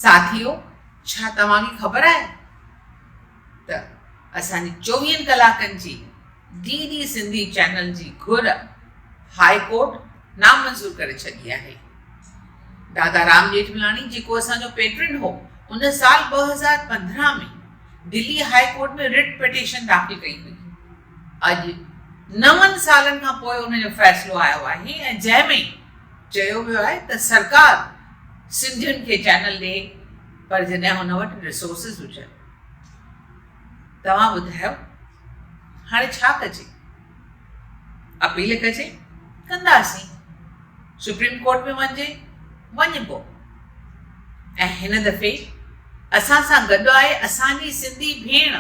ساٿيو ڇا توهان کي خبر آهي ته اسان جي چوويهن ڪلاڪن جي ڊي ڊي سنڌي چينل جي گهر هاء ڪورٽ نامنظور ڪري ڇڏي آهي دادا رام ڄيٺملاڻي جيڪو اسان جو پيٽرن هو ان سال ٻه هزار پندرهن ۾ Delhi high court ۾ writ petition داخل ڪئي هئي اڄ نون سالن کان پوء ان جو فيصلو آيو آهي ۽ جنهن ۾ چيو ويو آهي ته سرڪار سنڌين کي چينل ڏي پر جڏهن هن وٽ ريسورسز هجن. توهان ٻڌايو هاڻي ڇا ڪجي؟ اپيل ڪجي؟ ڪنداسين. سپريم ڪورٽ ۾ وڃجي؟ وڃبو. ۽ هن دفعي اسان سان گڏ آهي اسان جي سنڌي ڀيڻ.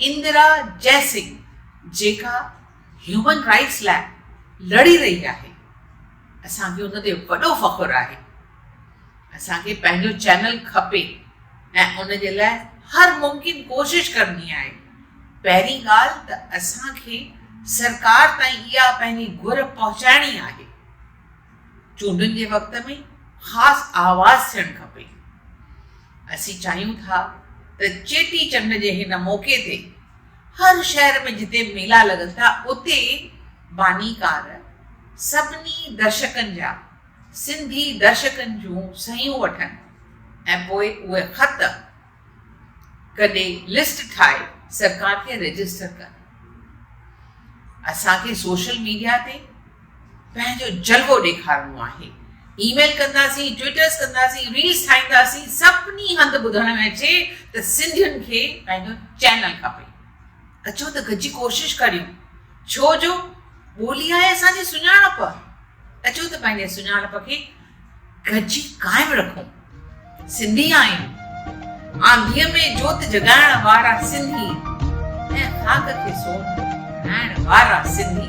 اندرا جئسنگ جيڪا هيومن رائٽس لاء لڙي رهي آهي اسان کي ان تي وڏو فخر آهي اسان کي پنهنجو چينل کپي ۽ ان جي لاء هر ممڪن ڪوشش ڪرڻي آهي پهرين ڳالهه ته اسان کي سرڪار تائين اها پنهنجي گهر پهچائڻي آهي چونڊن جي وقت ۾ خاص آواز ٿيڻ کپي. اسين چاهيون ٿا ته چيٽي چنڊ جي هن موقعي تي هر شهر ۾ جتي ميلا لڳن ٿا اتي بانيڪار سڀني درشڪن جا سنڌي درشڪن جون صحيحون وٺن ۽ پوء اهي خط ڪڏهن لسٽ ٺاهي سرڪار کي رجسٽر ڪن. اسان کي سوشل ميڊيا تي پنهنجو جلوو ڏيکارڻو آهي. اي ميل ڪنداسين، ٽوئيٽرز ڪنداسين، ريلز ٺاهينداسين، سڀني هنڌ ٻڌڻ ۾ اچي ته سنڌين کي پنهنجو چينل کپي. اچو ته گڏجي ڪوشش ڪريون. ڇو جو ٻولي آهي اسان جي سڃاڻپ. اچو ته پنهنجي سڃاڻپ کي ڳجهي قائم رکون سنڌي آهيون آنڌيء ۾ جوت جڳائڻ وارا سنڌي ۽ خاڪ کي سونهن بڻائڻ وارا سنڌي.